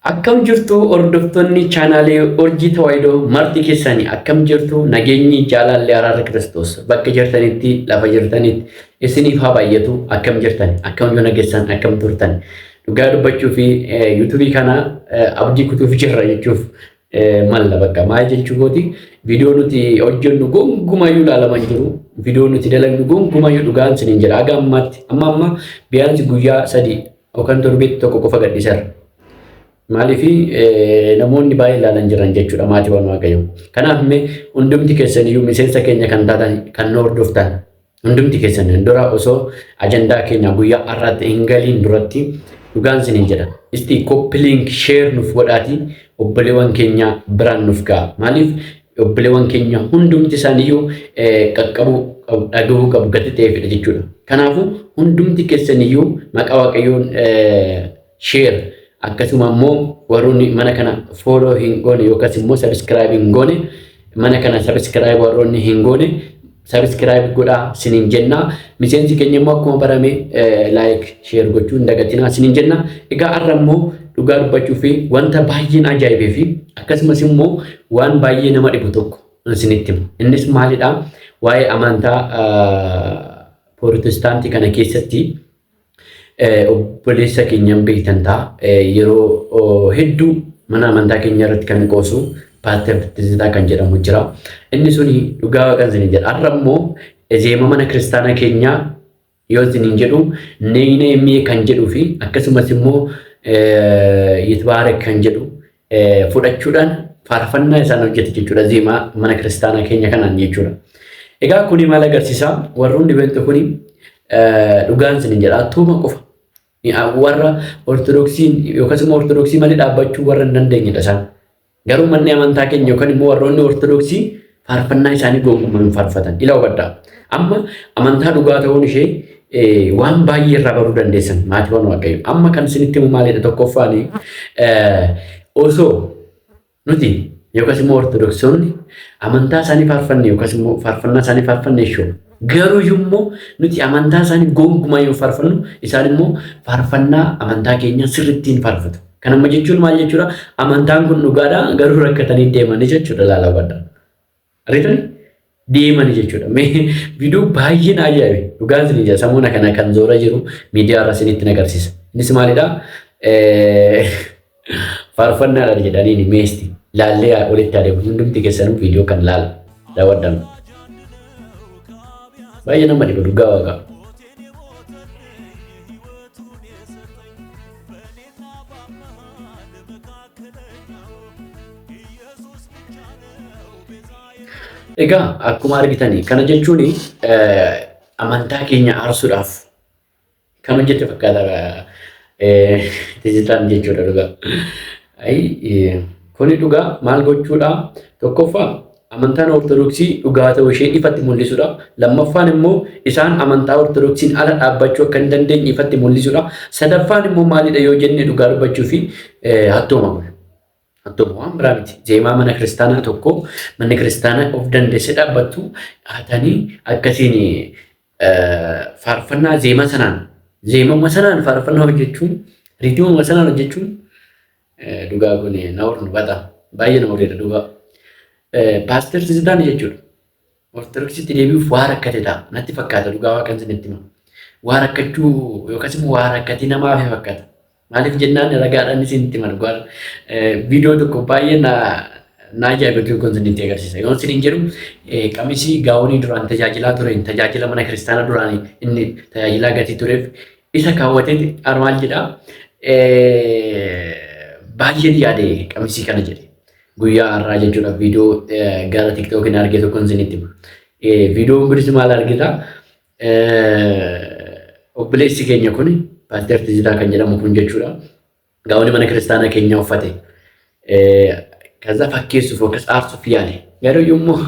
Akkam jirtu hordoftonni chaanaalee Urjii Tawaayidoo marti keessani akkam jirtu nageenyi jaalaalli araarri Kiristoos bakka jirtanitti lafa jirtanitti isiniif haa baay'atu akkam jirtan akkam yoo nagessan akkam turtan dhugaa dubbachuu fi yuutuubii kana abdii kutuuf jirra jechuuf malla bakka maal jechuu kooti viidiyoo nuti hojjennu gongumayyuu ilaalaman jiru viidiyoo nuti dalagnu gongumayyuu dhugaan sinin jedha aga ammaatti amma amma biyaansi guyyaa sadii Yookaan torbeetti tokko qofa gadhiisarra. Maaliif namoonni baay'ee ilaalan jiran jechuudha maatiiwwan waaqayyoo. Kanaaf mee hundumti keessan iyyuu miseensa keenya kan taatan kan nu hordoftan hundumti keessan dura osoo ajandaa keenya guyyaa har'aatti hin galiin duratti dhugaan isiniin jedha. Isti koppiliink sheer nuuf godhaatii obboleewwan keenya biraan nuuf ga'a. Maaliif Obboleewwan keenya hundumti isaaniiyyuu qaqqabuu qabu, dhagahuu qabu, gati ta'eefidha jechuudha. Kanaafuu hundumti keessaniyyuu maqaa Waaqayyoon sheer akkasuma immoo warroonni mana kana fooloo hin goone yookaas immoo sabiskiraayib hin goone mana kana sabiskiraayib warroonni hin goone Subscribe godhaa sinin jenna. Miseensi keenya immoo akkuma barame like share gochuu hin dagatinaa sinin jenna. Egaa har'a immoo dhugaa dubbachuu fi wanta baay'een ajaa'ibee fi akkasumas immoo waan baay'ee nama dhibu tokko isinitti himu. Innis maalidha? Waa'ee amantaa Pirootestaantii kana keessatti Obboleessa keenyaan beektan ta'a. Yeroo hedduu mana amantaa keenya irratti kan qoosu Paaster Tizzitaa kan jedhamu jira. Inni suni dhugaa waaqan isin jedha. Har'a immoo ezeema mana kiristaanaa keenyaa yoo isin jedhu neeyneemee kan jedhuu fi akkasumas immoo yitbaarak kan jedhu fudhachuudhaan faarfannaa isaan hojjete jechuudha zeemaa mana kiristaanaa keenya kanaan jechuudha. Egaa kuni maal agarsiisaa warroon dhibeettu kuni dhugaan isin jedha attuuma qofa warra ortodoksiin yookaas immoo ortodoksii malee dhaabbachuu warra hin dandeenyedha isaan. Garuu manni amantaa keenya yookaan immoo warroonni ortodoksii faarfannaa isaanii gonkumaa hin faarfatan. Ila hubadhaa. Amma amantaa dhugaa ta'uun ishee eh, waan baay'ee irraa baruu dandeessan maatiiwwan waaqayyo. Amma kan isinitti himu maalidha tokkoffaan eh, osoo nuti yookaas immoo ortodoksonni amantaa isaanii faarfanne yookaas immoo faarfannaa isaanii faarfanne jechuudha. Garuu immoo nuti amantaa isaanii gonkumaa yoo faarfannu isaan immoo faarfannaa amantaa keenya sirrittiin faarfatu. Kan amma jechuun maal jechuudha? Amantaan kun dhugaadha garuu rakkatanii deemanii jechuudha laala badda. Ariitani deemanii jechuudha. Mee viidiyoo baay'een ajaa'ibe dhugaan isin ija samuuna kana kan zoora jiru miidiyaa irra isinitti agarsiisa. Innis maalidha? Faarfannaa dha jedhanii ni meesti. Laallee haa olitti adeemu hundumti keessanuu viidiyoo kan laala. Daawwadhaan. Baay'ee nama dhiba dhugaa waaqaa. Egaa akkuma argitanii kana jechuun amantaa keenya aarsuudhaaf Kan hojjette fakkaata tizitaan jechuudha dhugaa. Ayi kuni dhugaa maal gochuudha? Tokkoffaa amantaan ortodoksii dhugaa ta'uu ishee ifatti mul'isudha. Lammaffaan immoo isaan amantaa ortodoksiin ala dhaabbachuu akka hin dandeenye ifatti mul'isudha. Sadaffaan immoo maalidha yoo jenne dhugaa dubbachuu fi hattooma kun. Attuma waan biraa miti. Zeemaa mana kiristaanaa tokko manni kiristaanaa of dandeesse dhaabbattu dhaatanii akkasiin faarfannaa zeemaa sanaan zeemama sanaan faarfannaa hojjechuun riitimama sanaan hojjechuun dhugaa kun na hornu bata baay'ee na horreera dhugaa. Paaster Tizidaan jechuudha. Ortodoksitti deebi'uuf waa rakkate ta'a. Natti fakkaata dhugaa waaqan isinitti hima. Waa rakkachuu yookaas immoo waa rakkatii nama hafe fakkaata. Maaliif jennaan ragaadhaan isinitti hima dhugaa. Viidiyoo tokko baay'ee na na ajaa'iba tokko isinitti agarsiisa. Yoon isiniin jedhu qamisii gaawonii duraan tajaajilaa ture tajaajila mana kiristaana duraan inni tajaajilaa gatii tureef isa kaawwatee armaan jedha. Baay'een yaade qamisii kana jedhe. Guyyaa har'aa jechuudha viidiyoo gara tiktookiin arge tokkon isinitti hima. Viidiyoon kunis maal argita? Obboleessi keenya kun paaster Tizitaa kan jedhamu kun jechuudha. Gaawonni mana kiristaanaa keenya uffate. Kaza fakkeessuuf akkas aarsuuf yaale. Garuu yommuu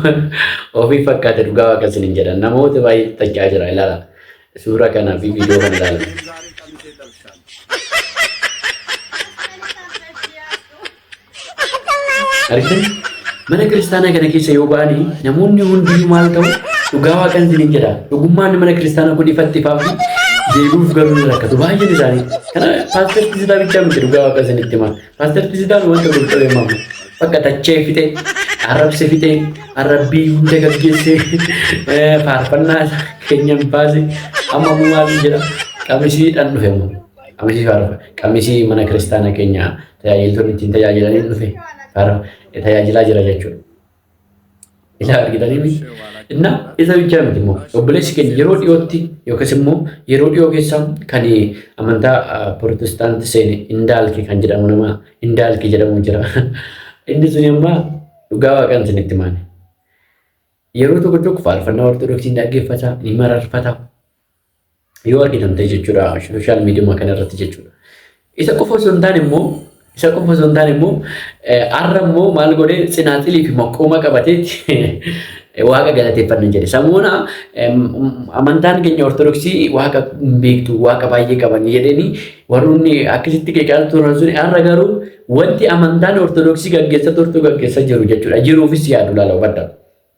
ofii fakkaate dhugaa waaqa isin hin jedhan namoota baay'ee taccaa jira ilaala. Suuraa kanaa fi viidiyoo kan ilaalan. Argitanii? Mana kiristaanaa kana keessa yoo ba'ani namoonni hundinuu maal ta'u dhugaa waaqan isiniin jedha. Dhugummaan mana kiristaanaa kun ifatti ifaa fi deebi'uuf garuu ni rakkatu. Baay'een isaanii. Kana paaster Tisitaa bichaa miti dhugaa waaqa isinitti hima. Paaster Tisitaan wanta qulqulluu himamu. Bakka tachee fixee, arrabse fixee, arrabbii hunda gaggeessee, eh, faarfannaa keenya hin baase, amma immoo maal jedha? Qamisiidhaan dhufe immoo. Qamisii faarfa. Qamisii mana kiristaana keenya tajaajiltoonni ittiin tajaajilaniin dhufe faarfa tajaajilaa jira jechuudha. Isa argitanii miti. Inna isa bichaa miti immoo obboleessi keenya yeroo dhiyootti yookiis immoo yeroo dhiyoo keessa kan amantaa pirootestaantii seene indaalki kan jedhamu nama indaalki jedhamu jira. Inni sun ammaa dhugaa waaqaan isinitti maali. Yeroo tokko tokko faarfannaa ortodoksii dhaggeeffata ni mararfata. yoo argitamte jechuudha sooshaal miidiyuma kana irratti jechuudha. Isa qofa osoo hin taane immoo isa qofa osoo hin taane immoo har'a immoo maal godhee tsinaaxilii fi maqooma qabatee waaqa galateeffanna jedhe. Samoona amantaan keenya ortodoksii waaqa hin beektu waaqa baay'ee qaban jedhanii warroonni akkasitti qeeqaa turan sun har'a garuu wanti amantaan ortodoksii gaggeessa turtu gaggeessa jiru jechuudha. Jiruufis yaadu laala hubadha.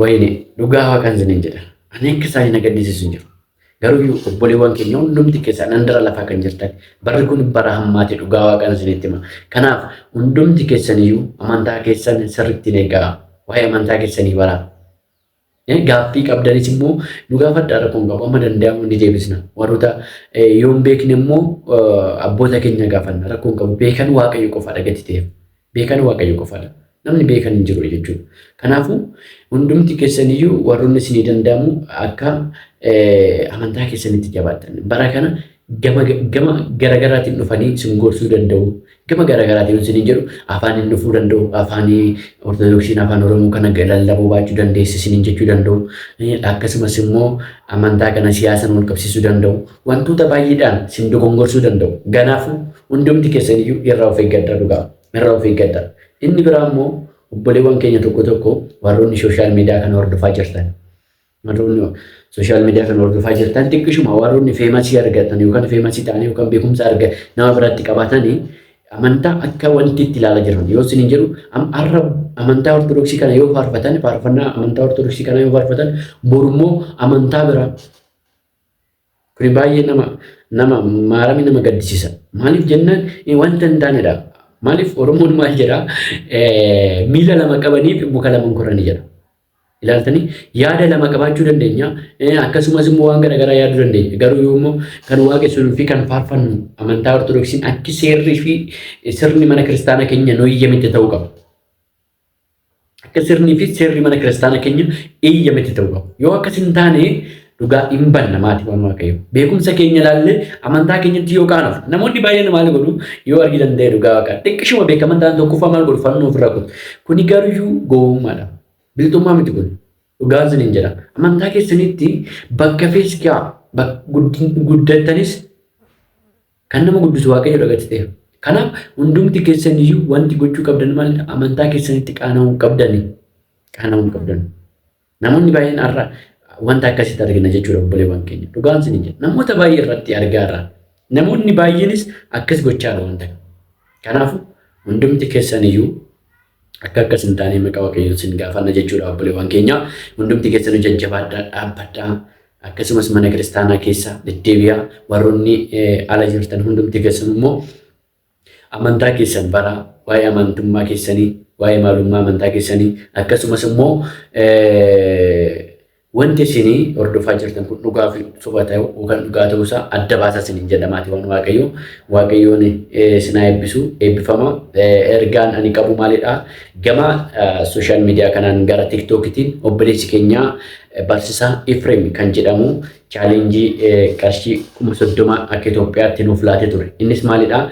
Wayine dhugaa waaqan isiniin jedha. Ani akka isaanii na gaddisiisu hin jiru. Garuu obboleewwan keenya hundumti keessan handara lafaa kan jirtan barri kun bara hammaati dhugaa waaqan isinitti hima. Kanaaf hundumti keessaniyyuu amantaa keessan sirriitti hin eegaa. Waa'ee amantaa keessanii baraa. Gaaffii qabdanis immoo nu gaafadhaa rakkoon qabu amma danda'amu ni deebisna. Warroota yoo hin beekne immoo abboota keenya gaafanna rakkoon qabu beekan waaqayyo qofaadha gati ta'eef beekan waaqayyo qofaadha namni beekan hin jiru jechuudha. Kanaafuu hundumti keessaniyyuu warroonni isinii danda'amu akka amantaa keessanitti jabaattan bara kana gama gama garagaraatiin dhufanii isin gorsuu danda'u. Gama garagaraatiin isin hin jedhu afaaniin dhufuu danda'u. Afaanii Ortodoksiin afaan Oromoo kana lallabuu baachuu dandeessi isin hin jechuu danda'u. Akkasumas immoo amantaa kana siyaasaan wal qabsiisuu danda'u. Wantoota baay'eedhaan isin dogongorsuu danda'u. Kanaafuu hundumti keessan iyyuu irraa of eeggadhaa dhugaa. Irraa of eeggadhaa. Inni biraa immoo obboleewwan keenya tokko tokko warroonni sooshaal miidiyaa kana hordofaa jirtan. Warroonni sooshaal miidiyaa kana hordofaa jirtan xiqqishuma warroonni feemasii argatan yookaan feemasii ta'anii yookaan beekumsa arga nama biratti qabatanii amantaa akka wanti itti ilaala jiran yoo isin hin jedhu har'a amantaa ortodoksii kana yoo faarfatan faarfannaa amantaa ortodoksii kana yoo faarfatan borummoo amantaa biraa kuni baay'ee nama nama maarami nama gaddisiisa maaliif jennaan wanta hin taanedha maaliif oromoon maal jedha miila lama qabaniif muka lama hin korani jedha Ilaaltanii yaada lama qabaachuu dandeenya. Eh, Akkasumas immoo waan garaagaraa yaaduu dandeenya. Garuu yoo immoo kan waaqessinuu fi kan faarfannu amantaa Ortodoksiin akki seerri fi sirni mana kiristaanaa keenya nu eeyyamitti ta'uu qaba. Akka sirnii fi seerri mana kiristaanaa keenya eeyyamitti ta'uu qaba. Yoo akkas hin taane Dhugaa hin banna maatiiwwan waaqayyo. Beekumsa keenya ilaallee amantaa keenyatti yoo kaanuuf namoonni baay'een maal godhu yoo argitan ta'e dhugaa waaqaa. Xiqqishuma beekaman ta'an tokkoffaa maal godhu fannoo ofirra kutu. Kuni garuyyuu gowwummaadha. Bilxummaa miti kun. Dhugaan sin hin jedha. Amantaa keessanitti bakka feeskaa guddattanis kan nama guddisu waaqayyo dhagatti ta'e. Kanaaf hundumti keessaniyyuu wanti gochuu qabdan maal amantaa keessanitti qaana'uu qabdani. Qaana'uu qabdani. Namoonni baay'een har'a wanta akkasitti argina jechuudha obboleewwan keenya. Dhugaan isin jedha. Namoota baay'ee irratti argaa irra. Namoonni baay'eenis akkas gochaa irra wanta. Kanaafuu hundumti keessan iyyuu akka akkas hin taane maqaa waaqayyoon isin gaafanna jechuudha obboleewwan keenya. Hundumti keessan jajjabaadhaa dhaabbadhaa. Akkasumas mana kiristaanaa keessa deddeebi'aa warroonni ala jirtan hundumti keessan immoo amantaa keessan baraa, waa'ee amantummaa keessanii, waa'ee maalummaa amantaa keessanii, akkasumas immoo wanti isin hordofaa jirtan kun dhugaa fi soba ta'uu yookaan dhugaa ta'uu isaa adda baasaa isiniin jedhamaati waan waaqayyo waaqayyoon sinaa eebbisu eebbifama ergaan ani qabu maalidha gama sooshaal miidiyaa kanaan gara tiktookitiin obboleessi keenyaa barsisaa Ifreem kan jedhamu challengii qarshii 30,000 akka Itoophiyaatti nuuf laatee ture. Innis maalidha?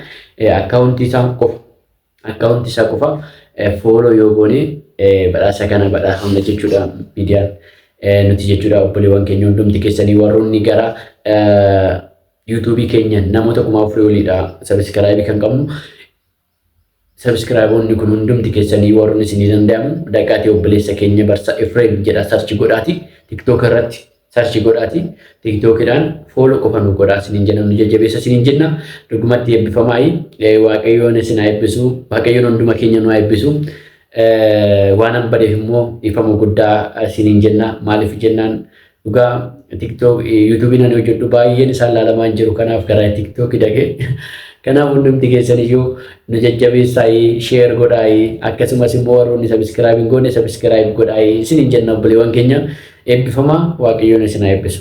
Akkaawuntii isaa qofa akkaawuntii isaa qofa fooloo yoo goone badhaasa kana badhaafamna jechuudha miidiyaan nuti jechuudha obboleewwan keenya hundumti keessanii warroonni gara yuutuubii keenya namoota kuma afurii oliidha sabiskiraayibii kan qabnu Sabskraayiboonni kun hundumti keessanii warroon isinii danda'amu daqaatii obboleessa keenya barsa Efreem jedha sarchi godhaati tiktook irratti sarchi godhaati tiktookidhaan foolo qofa nu godhaa isiniin jenna nu jajjabeessa isiniin jenna dhugumatti eebbifamaayi waaqayyoon isin haa eebbisu waaqayyoon hunduma keenya nu haa eebbisu waan an badeef immoo ifama guddaa isiniin jenna maaliif jennaan Dhugaa TikTok YouTube nan hojjedhu baay'een isaan laalamaa hin jiru kanaaf karaa TikTok dhage. Kanaaf hundumti keessan iyyuu nu jajjabeessaayi share godhaayi akkasumas immoo warroonni subscribe hin goone subscribe godhaayi isin hin jenna obboleewwan keenya eebbifamaa waaqayyoon isin haa eebbisu.